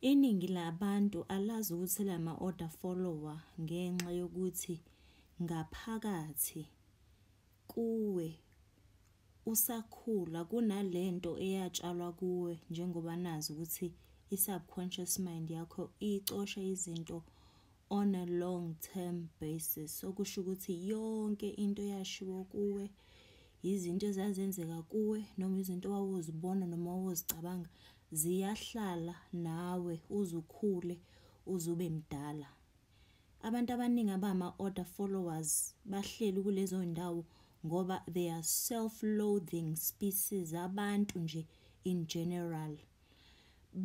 Iningi labantu alazi ukuthi la ma-order follower ngenxa yokuthi ngaphakathi kuwe usakhula kunale nto eyatshalwa kuwe njengoba nazi ukuthi i-subconscious mind yakho icosha izinto on a long term basis okusho ukuthi yonke into yashiwo kuwe yizinto ezazenzeka kuwe noma izinto owawuzibona noma owawuzicabanga ziyahlala nawe uzukhule uzube mdala abantu abaningi abama order followers bahleli kulezo ndawo ngoba they are self loathing species abantu nje in general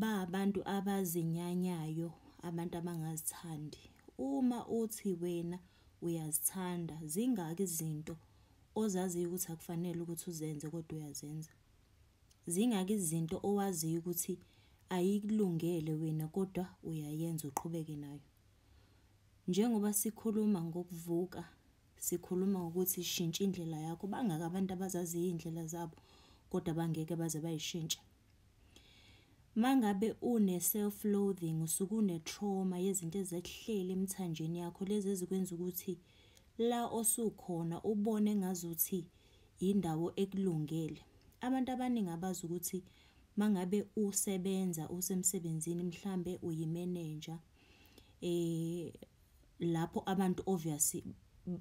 Ba abantu abazinyanyayo, abantu abangazithandi. Uma uthi wena uyazithanda, zingaki izinto ozaziyo ukuthi akufanele ukuthi uzenze kodwa uyazenza? Zingaki izinto owaziyo ukuthi ayikulungele wena kodwa uyayenza uqhubeke nayo? Njengoba sikhuluma ngokuvuka, sikhuluma ngokuthi shintsha indlela yakho, bangaki abantu abazaziyo iy'ndlela zabo kodwa bangeke baze bayishintshe? Mangabe une self loathing usuke une trauma yezinto ezekuhleli emthanjeni yakho lezi ezikwenza ukuthi la osukhona ubone ngazuthi indawo ekulungele. Abantu abaningi abazi ukuthi mangabe usebenza usemsebenzini mhlambe uyimenenja lapho abantu obviously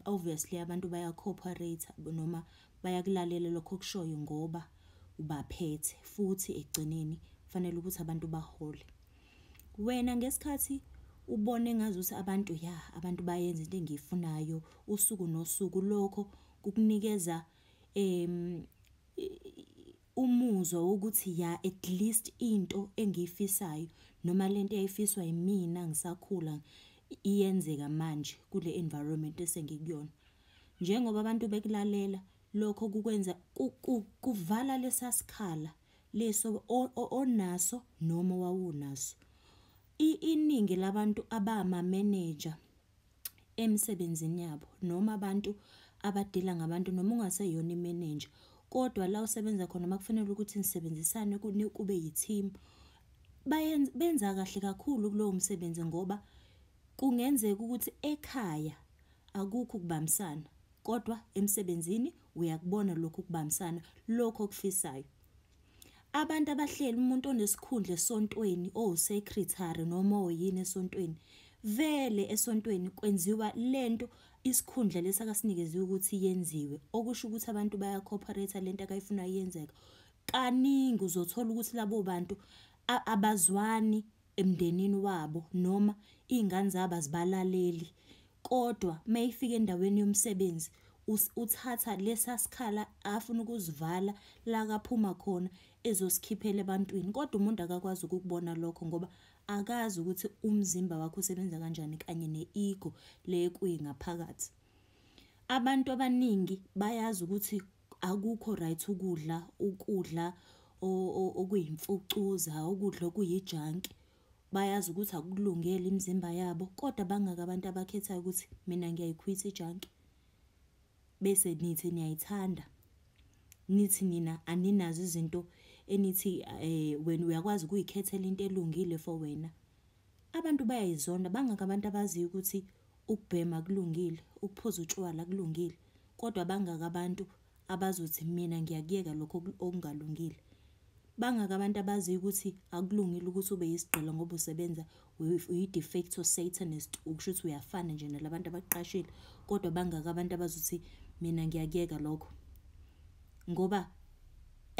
obviously abantu baya cooperate noma bayakulalela lokho kushoyo ngoba ubaphethe futhi ekugcineni kufanele ukuthi abantu bahole wena ngesikhathi ubone ngazuthi abantu ya abantu bayenza into engiyifunayo usuku nosuku lokho kukunikeza em umuzwa wokuthi ya at least into engiyifisayo noma lento eyayifiswa yimina ngisakhula iyenzeka manje kule environment esengikuyona njengoba abantu bekulalela lokho kukwenza kuvala lesasikhala leso onaso noma wawunaso iningi labantu abama manager emsebenzini yabo noma abantu abadila ngabantu noma ungaseyona imenenja kodwa la usebenza khona uma kufanele ukuthi nisebenzisane kube yi-team benza kahle kakhulu kulowo msebenzi ngoba kungenzeka ukuthi ekhaya akukho ukubambisana kodwa emsebenzini uyakubona lokho ukubambisana lokho okufisayo. Abantu abahlela umuntu onesikhundla esontweni owusekretary noma oyini esontweni vele esontweni kwenziwa lento isikhundla lesi akasinikeziwe ukuthi yenziwe okusho ukuthi abantu baya cooperate lento akayifuna yenzeka kaningi uzothola ukuthi labo bantu abazwani emndenini wabo noma iy'ngane zabo azibalaleli kodwa uma ifika endaweni yomsebenzi uthatha lesa sikhala afuna ukusivala la kaphuma khona ezosikhiphela ebantwini kodwa umuntu akakwazi ukukubona lokho ngoba akazi ukuthi umzimba wakho usebenza kanjani kanye ne-ego le kuyi ngaphakathi. Abantu abaningi bayazi ukuthi akukho right ukudla ukudla okuyimfucuza ukudla okuyijanki bayazi ukuthi akulungele imizimba yabo kodwa bangaka abantu abakhethayo ukuthi mina ngiyayikhwitha ijanki bese nithi niyayithanda nithi nina aninazo izinto enithi eh wena uyakwazi ukuyikhethela into elungile for wena Abantu bayayizonda bangaka abantu abaziyo ukuthi ukubhema kulungile, ukuphuza utshwala kulungile, kodwa bangaka abantu abazothi mina ngiyakuyeka lokho okungalungile. Bangaka abantu abaziyo ukuthi akulungile ukuthi ube yisigqila ngoba usebenza uyi-defecto satanist, ukusho ukuthi uyafana nje nalabantu abaqashile, kodwa bangaka abantu abazothi mina ngiyakuyeka lokho. Ngoba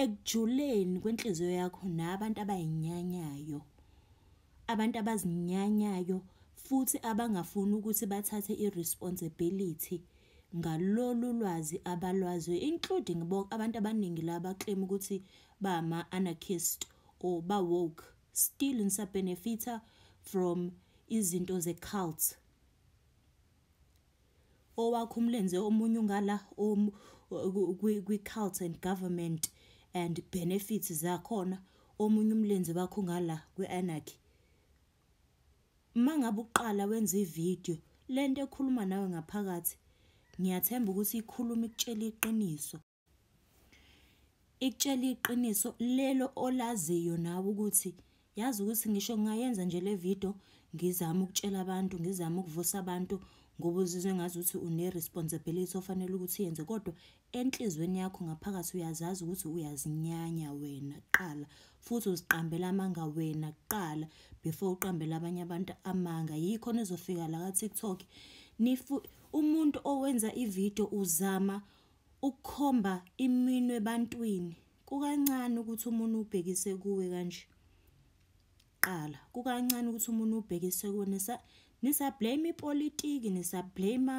ekujuleni kwenhliziyo yakho nabantu abayinyanyayo. Abantu abazinyanyayo futhi abangafuni ukuthi bathathe i-responsibility ngalolu lwazi abalwaziyo including bonke abantu abaningi la baclaim ukuthi bama-anarchist or ba-woke still ngisabenefitha from izinto ze-cult owakho umlenze omunye ungala kwi-cult and government and benefits zakhona omunye umlenze wakho ungala kwi-anarchy uma ngabe uqala wenza ividiyo le nto ekhuluma nawe ngaphakathi ngiyathemba ukuthi ikhuluma ikutshela iqiniso ikutshela iqiniso lelo olaziyo nawe ukuthi yazi ukuthi ngisho ngingayenza nje le video ngizama ukutshela abantu ngizama ukuvusa abantu ngoba uzizwe ngazi ukuthi une-responsibility ofanele ukuthi uyenze kodwa enhlizweni yakho ngaphakathi uyazazi ukuthi uyazinyanya wena kuqala futhi uziqambela amanga wena kuqala before uqambela abanye abantu amanga yikho nizofika la ka-tiktok umuntu owenza ividiyo uzama Ukukhomba iminwe ebantwini kukancane ukuthi umuntu ubhekise kuwe kanje. Qala kukancane ukuthi umuntu ubhekise kuwe nisa nisa blame ipolitiki nisa blame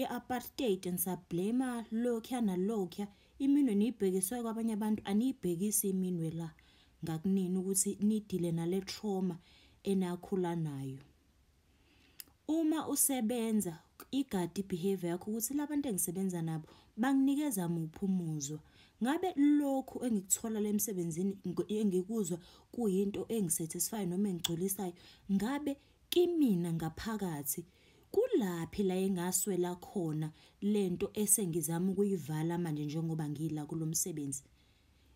i-apartheid nisa blame lokya nalokya iminwe niyibhekiswe kwabanye abantu aniyibhekisi iminwe la ngakunini ukuthi nidile nale trauma enakhula nayo. Uma usebenza igadi i-behavior yakho ukuthi labantu engisebenza nabo banginikeza muphi umuzwa. Ngabe lokhu engikuthola la emsebenzini engikuzwa kuyinto engi-satisfy-ayo noma engigculisayo? Ngabe kimina ngaphakathi kulaphi la engaswela khona le nto esengizama ukuyivala manje njengoba ngila kulo msebenzi?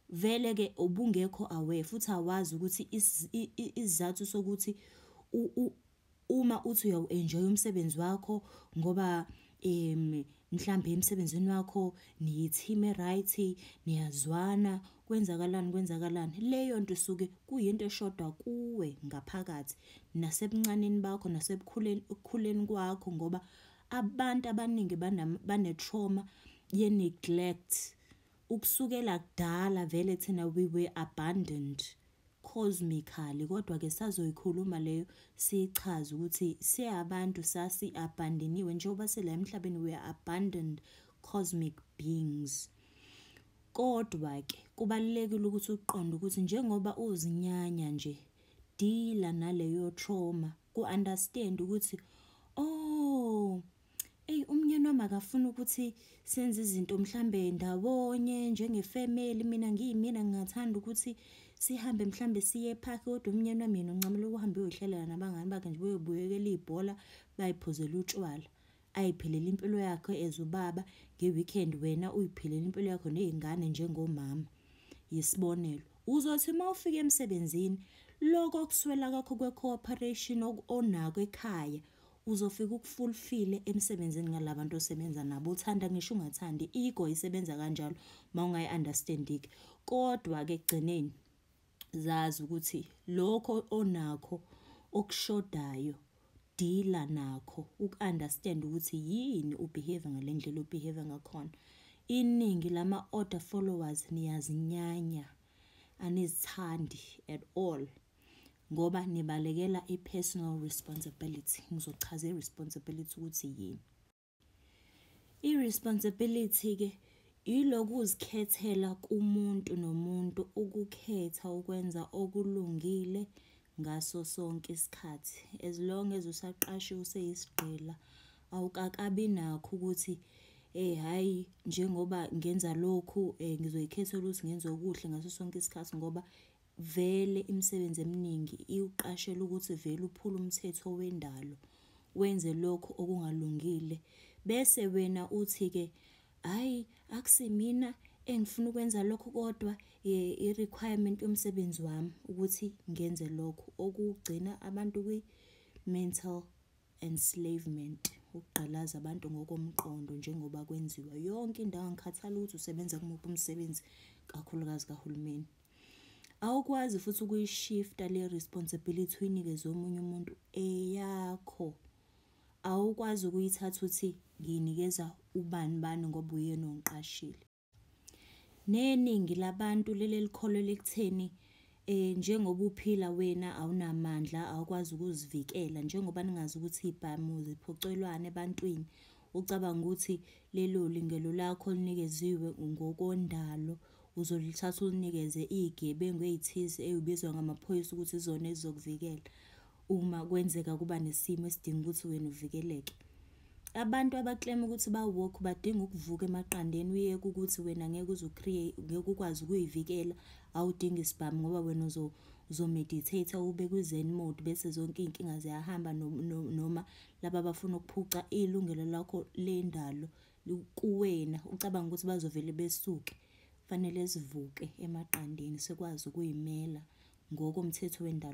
Vele ke ubungekho aware futhi awazi ukuthi isizathu sokuthi uma uthi uyawu-enjoy umsebenzi wakho ngoba um mhlambe emsebenzini wakho niyi-team e-right, niyazwana, kwenzakalani, kwenzakalani. Leyo nto isuke kuyinto eshoda kuwe ngaphakathi, nasebuncaneni bakho, nasebukhuleni, ekukhuleni kwakho ngoba abantu abaningi bane-trauma ye-neglect. ukusukela kudala vele thina we were abandoned cosmically kodwa ke sazoyikhuluma leyo sichaze ukuthi siyabantu sasi abandoniwe njengoba sila emhlabeni we are abandoned cosmic beings kodwa ke kubalekile ukuthi uqonde ukuthi njengoba uzinyanya nje dealer naleyo trauma ku understand ukuthi oh Eyi umnyeni wami akafuni ukuthi senze izinto mhlambe ndawonye njengefamily mina ngiyimina ngingathanda ukuthi sihambe mhlambe siye epark kodwa umnyeni wami yena uncamela ukuhamba uyohlalela nabangani bakhe nje beyobuyekela ibhola bayiphuzela utshwala ayiphelele impilo yakhe as ubaba nge-weekend wena uyiphelele impilo yakho nezingane njengomama yisibonelo uzothi uma ufika emsebenzini lokho kuswela kwakho kwe-cooperation onako ekhaya uzofika ukufulfile emsebenzini ngalabantu osebenza nabo uthanda ngisho ungathandi ego isebenza kanjalo mawungayi understand ke kodwa ke gcineni zazi ukuthi lokho onakho okushodayo deala nakho ukunderstand ukuthi yini ubehave ngalendlela ubehave ngakhona iningi lama order followers niyazinyanya anizithandi at all ngoba nibalekela i-personal responsibility ngizochaza i-responsibility ukuthi yini i-responsibility-ke yiloku uzikhethela kumuntu nomuntu ukukhetha ukwenza okulungile ngaso sonke isikhathi as long as usaqashiwe useyisigqila awukakabi nakho ukuthi eh hayi njengoba ngenza lokhu eh ngizoyikhethela ukuthi ngenze okuhle ngaso sonke isikhathi ngoba Vele imisebenzi eminingi iwuqashela ukuthi vele uphule umthetho wendalo, wenze lokho okungalungile. Bese wena uthi-ke, hhayi akusimina engifuna ukwenza lokho kodwa i-requirement yomsebenzi wami ukuthi ngenze lokho, okugcina abantu kwi-mental enslavement, ukugqalaza abantu ngokomqondo njengoba kwenziwa yonke indawo, angikhathali ukuthi usebenza kumuphi umsebenzi, kakhulukazi kahulumeni. awukwazi futhi ukuyishifta le responsibility uyinikeze omunye umuntu eyakho awukwazi ukuyithatha uthi ngiyinikeza ubani bani ngoba uyena ongiqashile neningi labantu lele likholwe lekutheni eh njengoba uphila wena awunamandla awukwazi ukuzivikela njengoba ningazi ukuthi ibhamu ziphocelwane ebantwini ucabanga ukuthi lelo lingelo lakho linikeziwe ngokondalo uzolithatha ulinikeze iy'gebengu ey'thize ey'bizwa ngamaphoyisa ukuthi izona ezizokuvikela uma kwenzeka kuba nesimo esidinga ukuthi wena uvikeleke. Abantu abaklema ukuthi ba-woke badinga ukuvuka emaqandeni uyeke ukuthi wena ngeke ngeke ukwazi ukuy'vikela, awudingi sibhamu ngoba wena uzomeditheyitha ube kwi-zen mode bese zonke iy'nkinga ziyahamba noma laba abafuna ukuphuca ilungelo lakho lendalo. kuwena ucabanga ukuthi bazovele besuke fanele sivuke emaqandeni sikwazi ukuyimela ngokomthetho wendalo